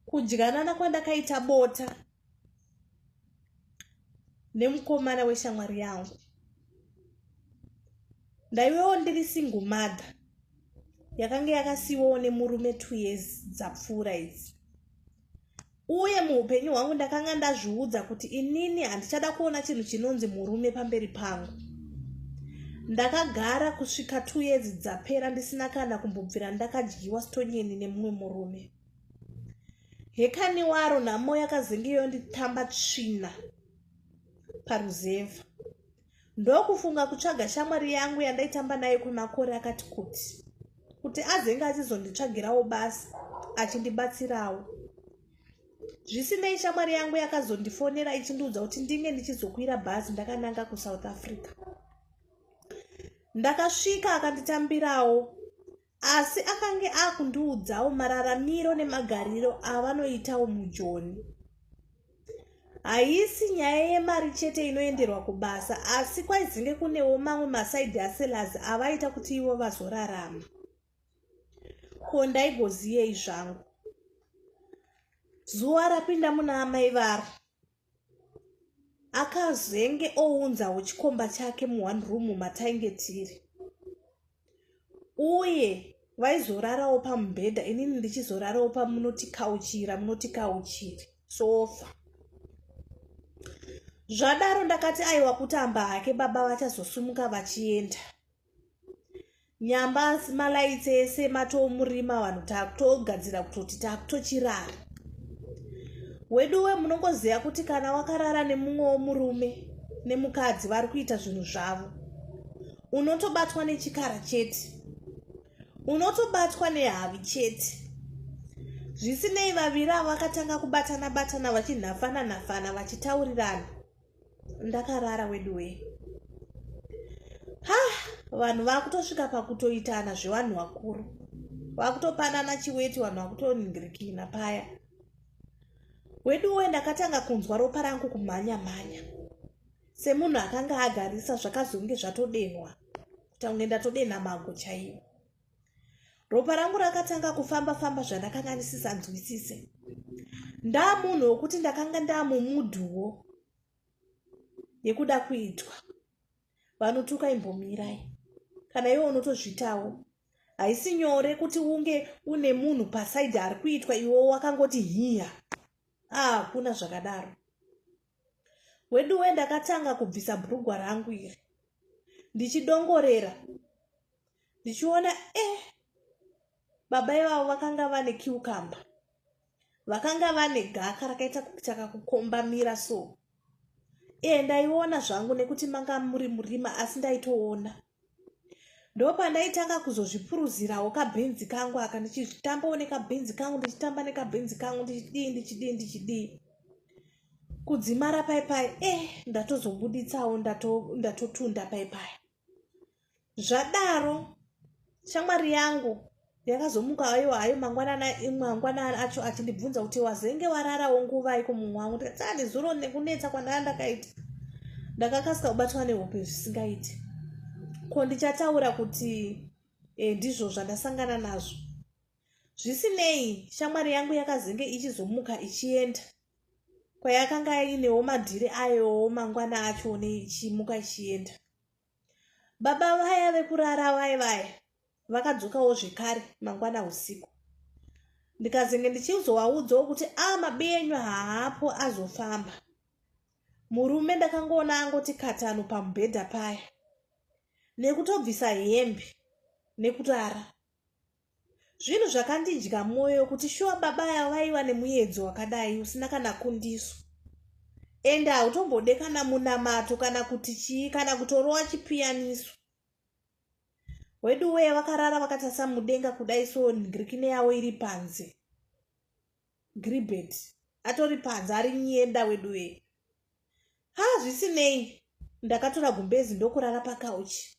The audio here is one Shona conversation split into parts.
kudyanana kwandakaita bota nemukomana weshamwari yangu ndaiwewo ndiri single mother yakanga yakasiiwawo nemurume two years dzapfuura idzi uye muupenyu hwangu ndakanga ndazviudza kuti inini handichada kuona chinhu chinonzi murume pamberi pangu ndakagara kusvika two years dzapera ndisina kana kumbobvira ndakadyiwa stonyeni nemumwe murume hekani waro nhamo yakazenge yonditamba tsvina paruzevha ndokufunga kutsvaga shamwari yangu yandaitamba nayo kwemakore akati kuti kuti azenge achizonditsvagirawo basa achindibatsirawo zvisinei shamwari yangu yakazondifonera ichindiudza kuti ndinge ndichizokwira bhazi ndakananga kusouth africa ndakasvika akanditambirawo asi akange akundiudzawo mararamiro nemagariro avanoitawo mujoni haisi nyaya yemari chete inoenderwa kubasa asi kwaizinge kunewo mamwe masaidi aselaz avaita kuti ivo vazorarama ko ndaigoziyei zvangu zuva rapinda muna amai varo akazenge ounzawo chikomba chake muone room matainge tiri uye vaizorarawo pamubhedha inini ndichizorarawo pamunotikauchira munotikauchiri sofa zvadaro ndakati aiwa kutamba hake baba vachazosumuka vachienda nyamba asi malaitsi ese matoomurima vanhu takutogadzira kutoti takutochirara weduwe munongoziva kuti kana wakarara nemumwe womurume nemukadzi vari kuita zvinhu zvavo unotobatwa nechikara chete unotobatwa nehavi chete zvisinei vaviri avo vakatanga kubatana batana vachinhafana nhafana vachitaurirana ndakarara weduwee ha vanhu vakutosvika pakutoitana zvevanhu vakuru vakutopanana chiweti vanhu vakutoningirikina paya weduwe ndakatanga kunzwa ropa rangu kumhanya mhanya semunhu akanga agarisa zvakazonge zvatodenhwa kutange ndatodenha mago chaiwo ropa rangu rakatanga kufamba famba zvandakanga ndisisanzwisise ndaa munhu wokuti ndakanga ndaa mumudhuwo yekuda kuitwa vanotuka imbomirai kana iwe unotozvitawo haisi nyore kuti unge une munhu pasaidi ari kuitwa iwo wakangoti hiya ah, hakuna ah, zvakadaro weduwe ndakatanga kubvisa bhurugwa rangu iri ndichidongorera ndichiona e eh, baba ivavo vakanga vane kiukamba vakanga vane gaka rakaita kuchaka kukombamira so e ndaiona zvangu nekuti manga muri murima asi ndaitoona ndopandaitanga kuzozvipuruzirawo kabhenzi kangu aka ndichitambawo nekabhenzi kangu ndichitamba nekabhenzi kangu ndichidii ndichidii ndichidii kudzimara pai pai e eh, ndatozobuditsawo ndatotunda pai pai zvadaro shamwari yangu yakazomuka hayo hayo mangwanana mangwanana acho achindibvunza kuti wazenge wararawo nguvai kumumwe wangu ndikati aa ah, nezuro nekunetsa kwandanga ndakaita ndakakasika kubatwa nehope zvisingaiti ko ndichataura kuti e, ndizvo zvandasangana nazvo zvisinei shamwari yangu yakazenge ichizomuka ichienda kwayakanga inewo madhiri ayowo mangwana acho neichimuka ichienda baba vaya vekurara vaya vaya vakadzokawo zvekare mangwana usiku ndikazenge ndichizovaudzawo kuti a ah, mabi enyu haapo azofamba murume ndakangoona angoti katano pamubhedha paya nekutobvisa hembe nekutara zvinhu zvakandidya mwoyo kuti shuwa baba aya vaiva nemuyedzo wakadai usina kana kundiso ende hautombode kana munamato kana kuti chii kana kutorowa chipiyaniso wedu weye vakarara vakatasa mudenga kudai so ngrikine yavo iri panze gribet atori panze ari nyenda wedu weye ha zvisinei ndakatora gumbezi ndokurara pakauchi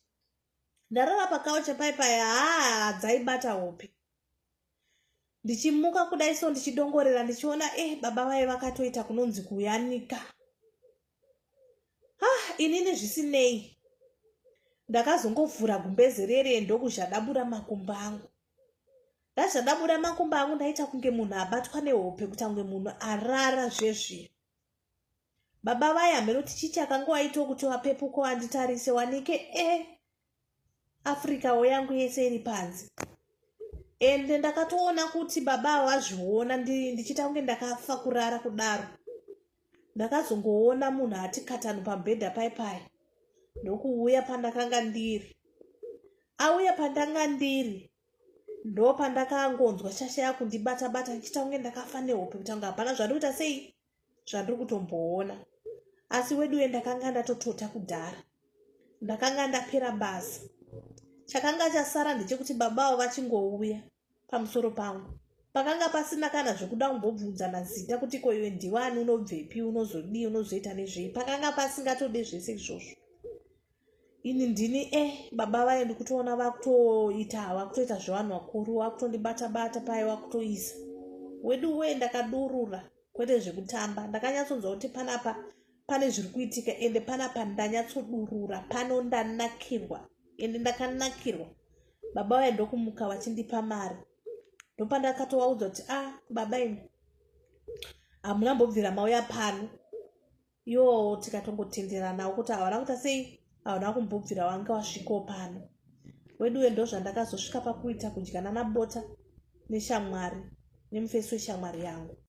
ndarara pakauche pai pai haa dzaibata hope ndichimuka kudai so ndichidongorera ndichiona e eh, baba vaye vakatoita kunonzi kuyanika ah inini zvisinei ndakazongovhura gumbeze rere ndokuzhadabura makumba angu ndazhadabura makumba angu ndaita kunge munhu abatwa nehope kutange munhu arara zvezvino baba vaye hameno tichiti akanga waitwa kuti wapepuko anditarise wanike e eh, africa wo yangu yese iri panze ende ndakatoona kuti baba awazviona ndichiita kunge ndakafa kurara kudaro ndakazongoona munhu ati katano pamubhedha pai pai ndokuuya pandakanga ndiri auya pandanga ndiri ndo pandakangonzwa shasha yakundibata bata ndichiita kunge ndakafa nehope kuti anga hapana zvandikuita sei zvandiri kutomboona asi weduwe ndakanga ndatotota kudhara ndakanga ndapera basa chakanga chasara ndechekuti baba avo vachingouya pamusoro pangu pakanga pasina kana zvekuda kumbobvunzana zita kuti koiwe ndiwani unobvepi unozodii unozoita nezvei pakanga pasingatode zvese izvozvo ini ndini e eh, baba vaye ndikutoona vakutoita vakutoita zvevanhu vakuru vakutondibata bata paye vakutoisa wedu wee ndakadurura kwete zvekutamba ndakanyatsonzwa kuti panapa pane zviri kuitika ende panapa ndanyatsodurura pano ndanakirwa ende ndakanakirwa baba vaye ndokumuka vachindipa mari ndopandakatovaudza kuti a ah, baba imi hamuna mbobvira mauya pano yoo tikatongotenderanawo kuti havana kuita sei havana kumbobvira wange wasvikawo pano weduwe ndo zvandakazosvika pakuita kudyanana bota neshamwari nemufesi weshamwari yangu